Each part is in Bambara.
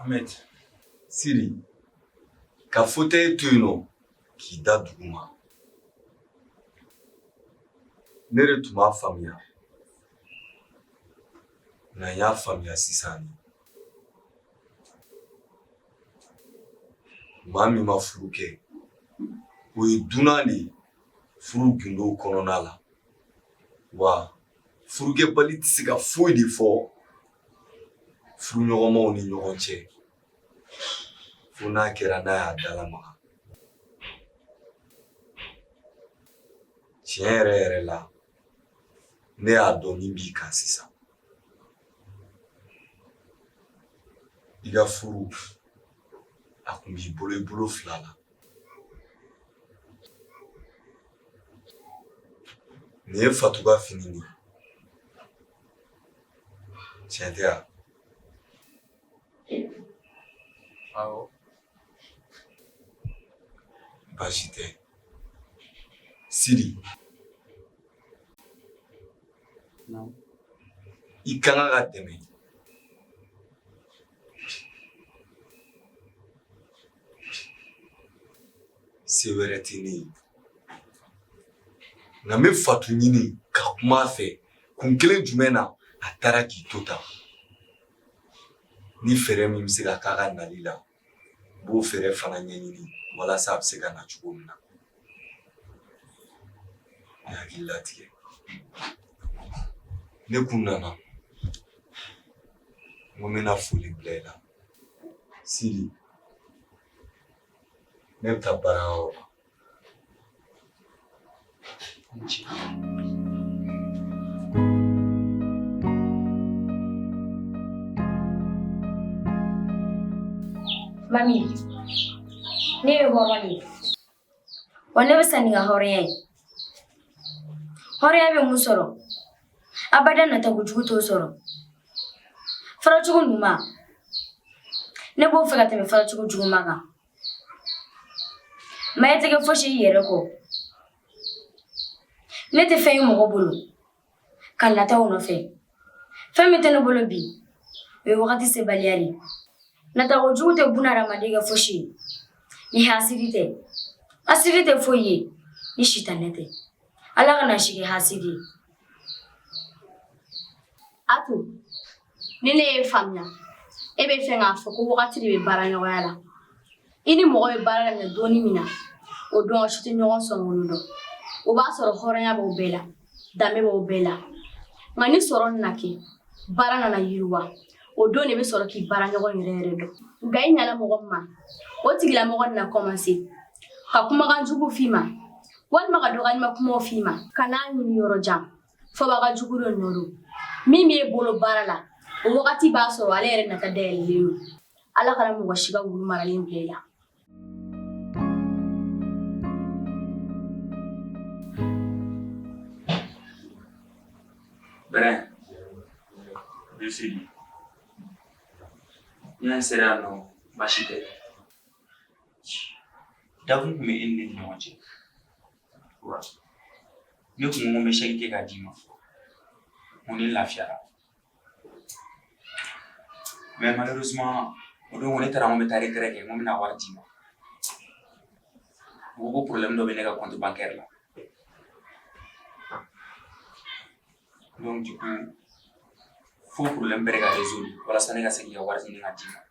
Ahmed, Sidi, ka fauteuil to yen nɔ k'i da duguma ne yɛrɛ tun m'a faamuya ne y'a faamuya sisan de. Maa min ma furu kɛ, o ye dunan de ye furu gundow kɔnɔna la. Wa furukɛbali tɛ se ka foyi de fɔ furuɲɔgɔnmaw ni ɲɔgɔn cɛ fo n'a kɛra n'a y'a dalamaga. Tiɲɛ yɛrɛ yɛrɛ la, ne y'a dɔn min b'i kan sisan i ka furu a kun b'i bolo i bolo fila la nin ye fatu ka fini de ye tiɲɛ tɛ wa awɔ baasi tɛ sidi i ka kan ka dɛmɛ se wɛrɛ tɛ ne ye nka n bɛ fatu ɲini ka kuma a fɛ kun kelen jumɛn na a taara k'i to tan ni fɛɛrɛ min bɛ se ka k'a ka nali la n b'o fɛɛrɛ fana ɲɛɲini walasa a bɛ se ka na cogo min na ne hakili latigɛ ne kun nana n ko n bɛna foli bila i la sidi ne bɛ taa baarayɔrɔ la Mami, ne bɛ bɔ mami wa ne bɛ sa ni n ka hɔrɔnya ye hɔrɔnya bɛ mun sɔrɔ abada natako jugu t'o sɔrɔ faracogo ɲuman ne b'o fɛ ka tɛmɛ faracogo juguman kan Maa tɛ kɛ foyisi ye i yɛrɛ kɔ ne tɛ fɛn ye mɔgɔ bolo ka nata o nɔfɛ fɛn min tɛ ne bolo bi o ye wagati sebaliya ye natako jugu tɛ buna hadamaden kɛ foyisi ye ni hasidi tɛ hasidi tɛ foyi ye ni sitanɛ tɛ ala kana n sigi hasidi a ni ne ye faamuya e b'a fɛ k'a fɔ ko wagati de bɛ baara ɲɔgɔnya la i ni mɔgɔ bɛ baara daminɛ don min na o don si tɛ ɲɔgɔn sɔrɔ olu dɔn o b'a sɔrɔ hɔrɔnya b'o bɛɛ la danbe b'o bɛɛ la nka ni sɔrɔ nana kɛ baara nana yiriwa o don de bɛ sɔrɔ k'i baara ɲɔgɔn yɛrɛ yɛrɛ dɔn nka i ɲana mɔgɔ min ma o tigilamɔgɔ nana kɔmanse ka kumakan jugu f'i ma walima ka dɔgɔyalima kumaw f'i ma kan'a ɲini yɔrɔ jan fɔbaga jugu dɔ nɔ don min b'e bolo baara la o wagati b'a sɔrɔ ale yɛrɛ nata dayɛlɛlen don ala kana mɔgɔ si ka wulu maralen bila i la Bɛrɛ, Bisili, n y'a sera yan nɔ baasi tɛ. Dakun tun bɛ e ni ne ni ɲɔgɔn cɛ. ne tun ko n bɛ chèque kɛ k'a d'i ma ko ne lafiyara mais malheureusement o don ko ne taara n ko n bɛ taa retrait kɛ n ko n bɛna wari d'i ma u ko ko problème dɔ bɛ ne ka compte bancaire la donc du coup fo problème bɛɛ de ka résoudre walasa ne ka se k'i ka wari ɲini k'a d'i ma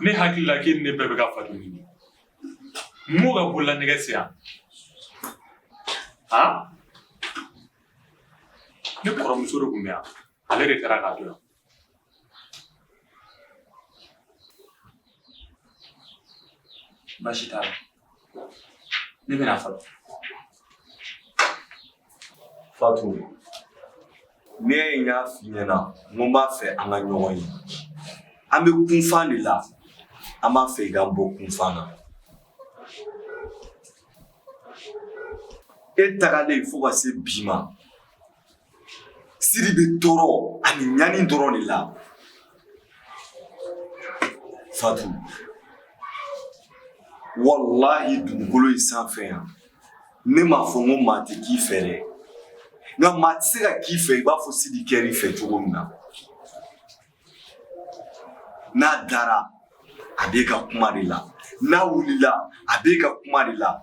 Ne hakili la k'e ni ne bɛɛ bɛ ka Fatu ɲini m'o ka bolola nɛgɛ se yan han ne kɔrɔmuso de tun bɛ yan ale de taara k'a to yan baasi t'a la Mimi nafa. Fatu. N'i y'a ye n y'a f'i ɲɛna n ko n b'a fɛ an ka ɲɔgɔn ye an bɛ kunfan de la an b'a fɛ i k'an bɔ kunfan na e tagalen fo ka se bi ma Sidi bɛ tɔɔrɔ ani ɲani dɔrɔn de la Fatu walahi dugukolo in sanfɛ yan ne m'a fɔ n ko maa tɛ k'i fɛ dɛ nka maa tɛ se ka k'i fɛ i b'a fɔ Sidi kɛr'i fɛ cogo min na n'a dara a b'e ka kuma de la n'a wulila a b'e ka kuma de la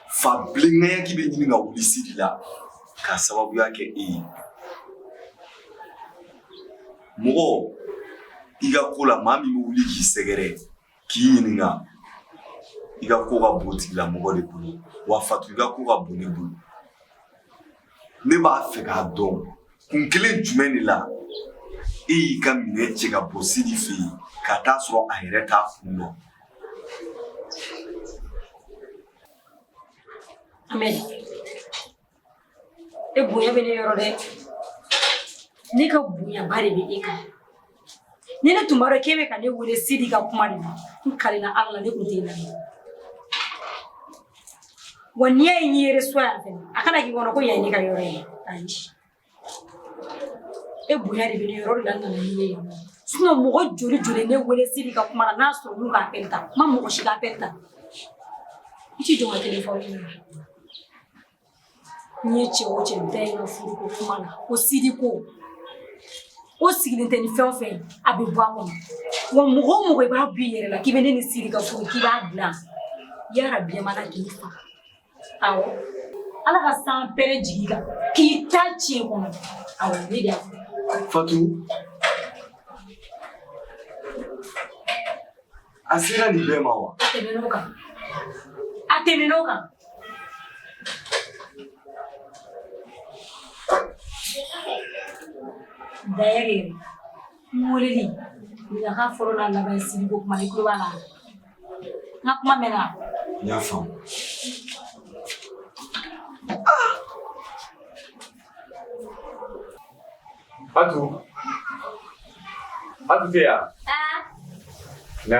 fa bilenkɛyaki bɛ ɲini ka wuli sidi la k'a sababuya kɛ e ye mɔgɔ i ka ko la maa min bɛ wuli k'i sɛgɛrɛ k'i ɲininka i ka ko ka bon tigilamɔgɔ de bolo wa fatu i ka ko ka bon ne bolo ne b'a fɛ k'a dɔn kun kelen jumɛn de la e y'i ka minɛn cɛ ka bɔ sidi fɛ yen ka taa sɔrɔ a yɛrɛ t'a kun dɔn e bonya bɛ ne yɔrɔ dɛ ne ka bonyaba de bɛ e kan ni ne tun b'a dɔn k'e bɛ ka ne wele sidi ka kuma de la n kalela ala la ne tun tɛ lamɛn wa n'i y'a ye n'i yɛrɛ so yan fɛnɛ a kana k'i kɔnɔ ko yan ye ne ka yɔrɔ ye ayi E bonya de bɛ ne yɔrɔ la nana ne ye sinon mɔgɔ joli joli ne wele sidi ka kuma na n'a sɔrɔ n'u ka appel ta n ma mɔgɔ si ka appel ta i t'i jɔ ka téléphone minɛ n'i ye cɛ o cɛ da i ka furu ko kuma na ko sidi ko o sigilen tɛ ni fɛn o fɛn ye a bɛ bɔ a kɔnɔ wa mɔgɔ o mɔgɔ i b'a b'i yɛrɛ la k'i bɛ ne ni sidi ka furu k'i b'a dilan yarabi yamana k'i faga Awɔ ala ka sanpɛrɛn jigi i kan k'i ta diɲɛ kɔnɔ awɔ ne de y'a fɔ fatu a sera nin bɛɛ ma wa a tɛmɛn'o kan a tɛmɛn'o kan D'ailleurs, Mɔlili ɲaga fɔlɔ n'a laban sidi ka kuma i tulo b'a la n ka kuma mɛnna n y'a faamu Atu Atu tɛ yan na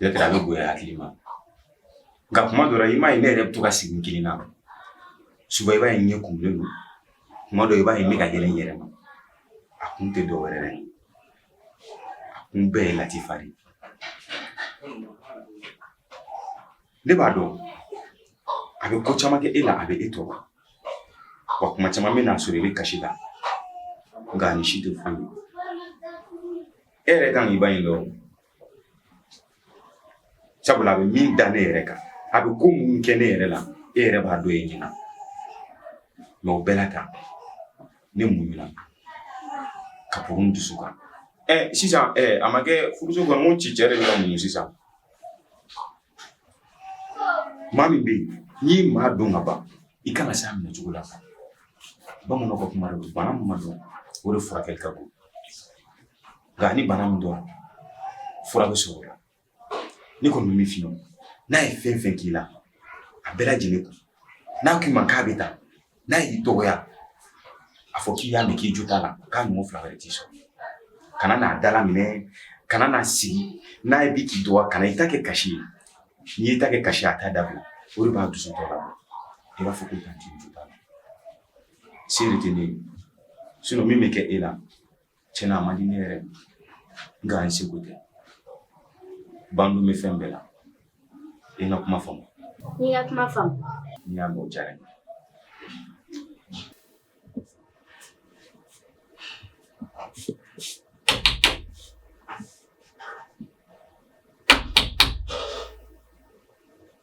Y'a kɛ a bɛ bonya hakili ma nka kuma dɔ la i m'a ye ne yɛrɛ bɛ to ka sigi n kelen na suba i b'a ye ɲɛ kumulen don kuma dɔ i b'a ye ne ka yɛlɛ n yɛrɛ ma a kun tɛ dɔ wɛrɛ ye a kun bɛɛ ye latifa de ye ne b'a dɔn a bɛ ko caman kɛ e la a bɛ e tɔɔrɔ wa kuma caman bɛ n'a sɔrɔ i bɛ kasi la nka nin si tɛ foyi ye e yɛrɛ kan k'i ba in dɔn sabula a bɛ min da ne yɛrɛ kan a bɛ ko mun kɛ ne yɛrɛ la e yɛrɛ b'a dɔn e ɲɛna mais o bɛɛ n'a ta ne muɲuna ka bɔ n dusu kan ɛ sisan ɛ a ma kɛ furuso kɔnɔ n ko ci cɛ de bɛ ka muɲu sisan maa min bɛ yen n'i ye maa dɔn ka ban i kan ka se a minɛ cogo la bamananw ka kuma don bana min ma dɔn o de furakɛli ka bon nka ni bana min dɔn fura bɛ sɔrɔ o la ne kɔni bɛ min f'i ye n'a ye fɛn fɛn k'i la a bɛɛ lajɛlen kun n'a k'i ma k'a bɛ taa n'a y'i dɔgɔya a fɔ k'i y'a mɛn k'i jo t'a la k'a ɲɔgɔn fila wɛrɛ t'i sɔrɔ kana n'a dala minɛ kana n'a sigi n'a ye bi k'i dɔgɔya kana i ta kɛ kasi ye n'i y'i ta kɛ kasi a t'a dabila o de b'a dusu tɔ la i b'a fɔ ko tanti i jo t'a la se de tɛ ne ye sinon min bɛ kɛ e la Tiɲɛ na a man di ne yɛrɛ nka an sago tɛ ban bɛ fɛn bɛɛ la i ka kuma faamu n ka kuma faamu n y'a mɛn diyara n ye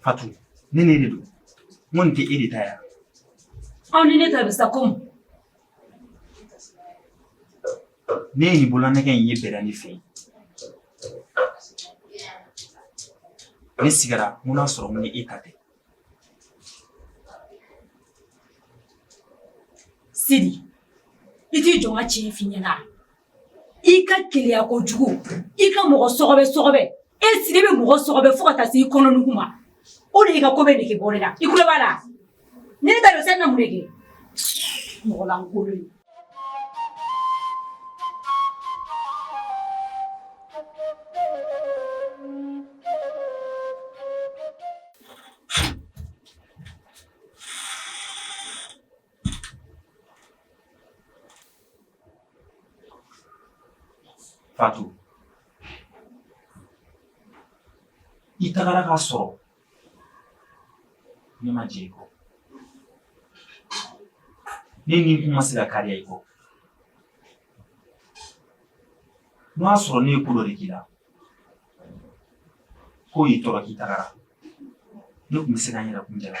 Fatu, ne ni e de don? Mbona ki e de ta ye? Au nini tabisa kum? Nini bulana kan yi berani fe? Ne sigara muna sɔrɔ mun ni e ta tɛ. Sidi, i t'i jɔ n ka tiɲɛ f'i ɲɛna. i ka keleya kojugu i ka mɔgɔ sɔgɔbɛ sɔgɔbɛ e sidi bɛ mɔgɔ sɔgɔbɛ fo ka taa se i kɔnɔnugu ma o de y'i ka ko bɛɛ nege bɔ ne la i kulo b'a la ne ta don sɛn na mun de kɛ mɔgɔ lankolon ye Fatu i tagara k'a sɔrɔ ne ma jɛn i kɔ ne ni kun ma se ka kariya i kɔ n'o y'a sɔrɔ ne ye ko dɔ de k'i la k'o y'i tɔɔrɔ k'i tagara ne tun bɛ se ka n yɛrɛ kun jala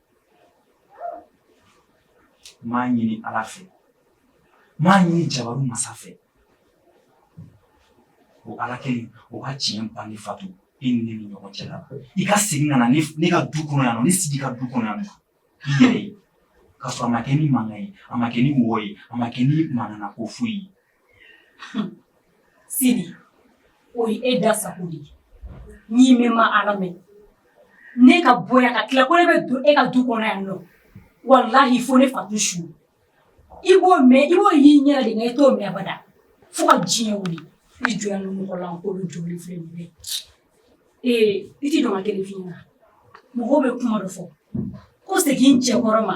M'a ɲini ala fɛ m'a ɲini jabaru masa fɛ o ala kelen o ka tiɲɛ bange fatu e ni ne ni ɲɔgɔn cɛ la i ka segin ka na ne ka du kɔnɔ yan nɔ ne sidi ka du kɔnɔ yan nɔ i yɛrɛ ye k'a sɔrɔ a ma kɛ ni mankan ye a ma kɛ ni wɔyɔ ye a ma kɛ ni manamanako foyi ye Sidi o ye e da sago de ye n'i mɛn ma ala mɛn ne ka bɔ ka tila ko ne bɛ don e ka du kɔnɔ yan nɔ walahi fo ne fatu su i b'o mɛn i b'o y'i ɲɛ de i t'o mɛn abada fo ka diɲɛ wuli i jɔ ni mɔgɔ lankolon joli filɛ nin bɛɛ ee i t'i jɔ n ka kelen f'i ɲɛna mɔgɔw bɛ kuma dɔ fɔ ko segin cɛkɔrɔ ma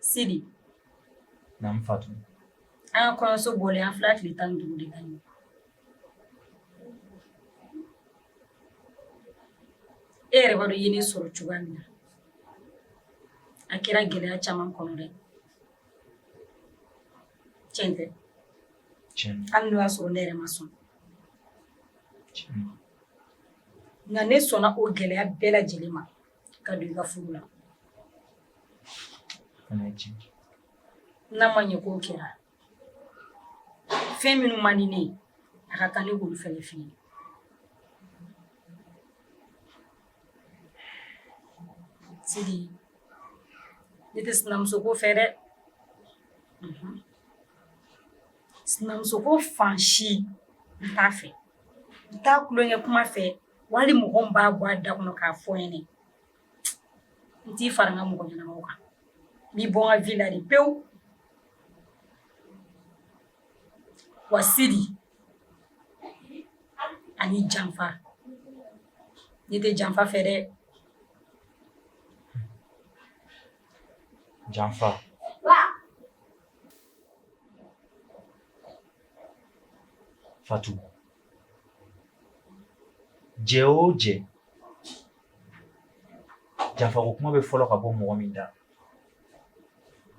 Sidi. Naamu Fatu. An ka kɔɲɔso bɔlen an filɛ tile tan ni duuru de kan nin ye. E yɛrɛ b'a dɔn i ye ne sɔrɔ cogoya min na. A kɛra gɛlɛya caman kɔnɔ dɛ. Tiɲɛ tɛ. Tiɲɛ don. Hali n'o y'a sɔrɔ ne yɛrɛ ma sɔn. Tiɲɛ don. Nka ne sɔnna o gɛlɛya bɛɛ lajɛlen ma. ka don i ka furu la n'a ma ɲɛ k'o kɛra fɛn minnu man di ne ye a ka kan ne k'olu fɛnɛ f'i ye sidi ne tɛ sinamuso ko fɛ dɛ mhm. sinamuso ko fan si n t'a fɛ n t'a tulonkɛ kuma fɛ Wali mɔgɔ min b'a bɔ a da kɔnɔ k'a fɔ n ɲɛnɛ n t'i fara n ka mɔgɔ ɲɛnamaw kan n b'i bɔ n ka vie la de pewu wa Sidi ani janfa ne tɛ janfa fɛ dɛ janfa Fatou jɛ o jɛ janfako kuma bɛ fɔlɔ ka bɔ mɔgɔ min da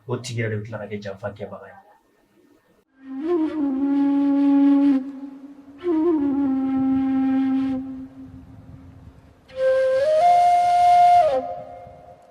o tigi yɛrɛ de bɛ tila ka kɛ janfa kɛbaga ye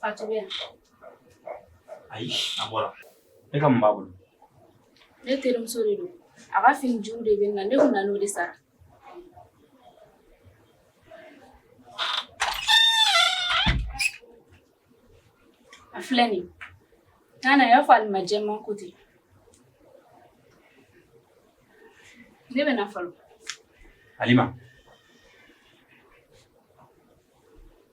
Fatu bɛ yan? Ayi, a bɔra. E ka mun b'a bolo? Ne terimuso de don. A ka fini juru de bɛ n na, ne tun nana o de sara. A filɛ nin ye. N'a nana, i y'a fɔ Alima jɛman ko ten. Ne bɛ na fɔlɔ. Alima.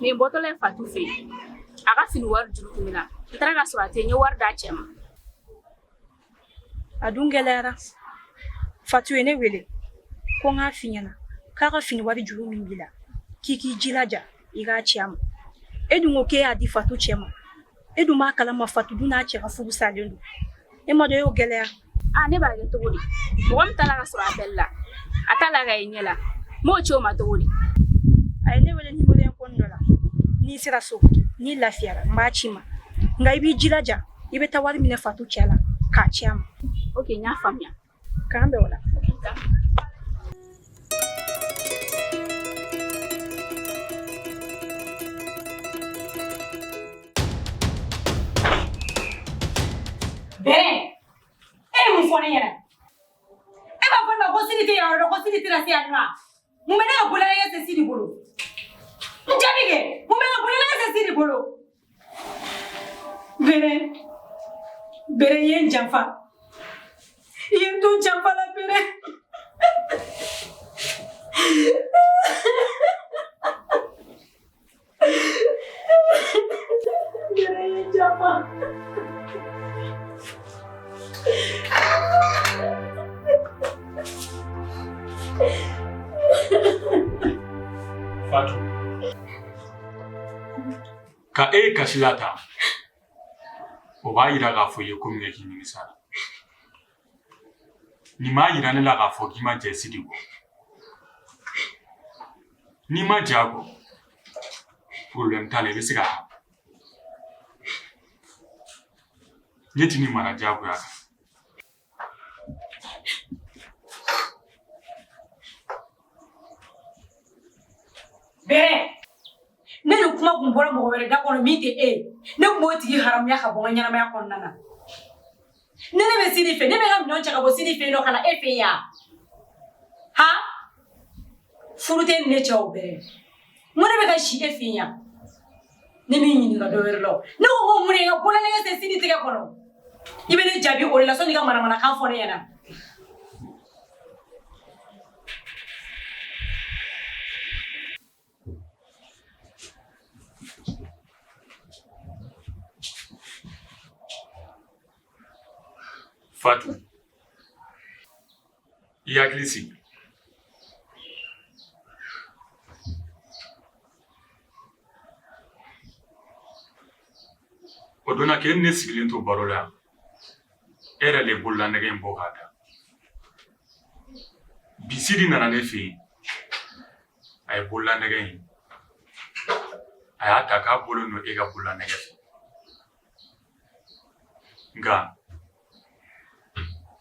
Ne bɔtɔ de ye fatu fɛ a ka fini wari juru tun bɛ n na n taara ka sɔrɔ a tɛ n ye wari d'a cɛ ma a dun gɛlɛyara fatu ye ne wele ko n k'a f'i ɲɛna k'a ka fini wari juru min b'i la k'i k'i jilaja i k'a ci a ma e dun ko k'e y'a di fatu cɛ ma e dun b'a kalama fatu dun n'a cɛ ka furu salen don e ma dɔ y'o gɛlɛya a ne b'a kɛ cogo di mɔgɔ min t'a la ka sɔrɔ appel la a t'a la ka ye ɲɛ la n b'o ci o ma cogo di a ye ne wele nimoro inconnu dɔ la ni n sera so ni n lafiyara n b'a ci i ma nka i b'i jilaja i bɛ taa wari minɛ fatu cɛ la k'a ci a ma ok n y'a faamuya K'an bɛn o la bɛn e ye mun fɔ ne ɲɛna e b'a fɔ ne ma ko Sidi tɛ yɔrɔ dɔn ko Sidi tɛna se yan nɔ mun bɛ ne ka bolonɛgɛ se Sidi bolo n jaabi kɛ mun bɛ ne ka bolonɛgɛ se Sidi bolo Bere bere ye n janfa i ye n to janfa la bere bere ye n janfa Fatou. ka e ye kasi la tan o b'a yira k'a fɔ i ye ko min kɛ k'i nimisala nin b'a yira ne la k'a fɔ k'i ma jɛ sidi kɔ n'i ma jɛ a kɔ problème t'a la i bɛ se ka ne tɛn'i mara diyagoya kan Bɛɛ ni nin kuma tun bɔra mɔgɔ wɛrɛ da kɔnɔ min tɛ e ye ne tun b'o tigi haramuya ka bɔ n ka ɲɛnamaya kɔnɔna na ni ne bɛ sidi fɛ ne bɛ ka minɛn cɛ ka bɔ sidi fɛ yen nɔ ka na e fɛ yan hali furu t'e ni ne cɛ o bɛɛ n ko ne bɛ ka si e fɛ yan ne m'i ɲininka dɔ wɛrɛ la o ne ko ko mun de ka bololanɛgɛ se sidi tɛgɛ kɔnɔ i bɛ ne jaabi o de la sani i ka manamanakan fɔ ne ɲɛna Fatou i hakili sigi o don na k'e ni ne sigilen to baro la yan e yɛrɛ de bolola nɛgɛ in bɔ k'a da bi sidi nana ne fɛ yen a ye bolola nɛgɛ in a y'a ta k'a bolo don e ka bolola nɛgɛ fɛ nka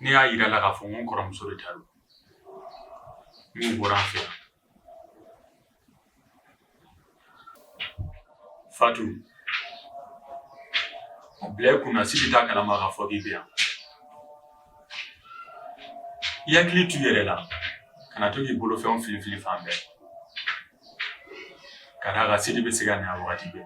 Ne y'a jira a la k'a fɔ n kɔrɔmuso de ta don o bɔra n fɛ yan fatu a bila i kunna sidi t'a kalama k'a fɔ k'i bɛ yan i hakili to i yɛrɛ la kana to k'i bolofɛnw filifili fan bɛɛ ka d'a kan sidi bɛ se ka na yan wagati bɛɛ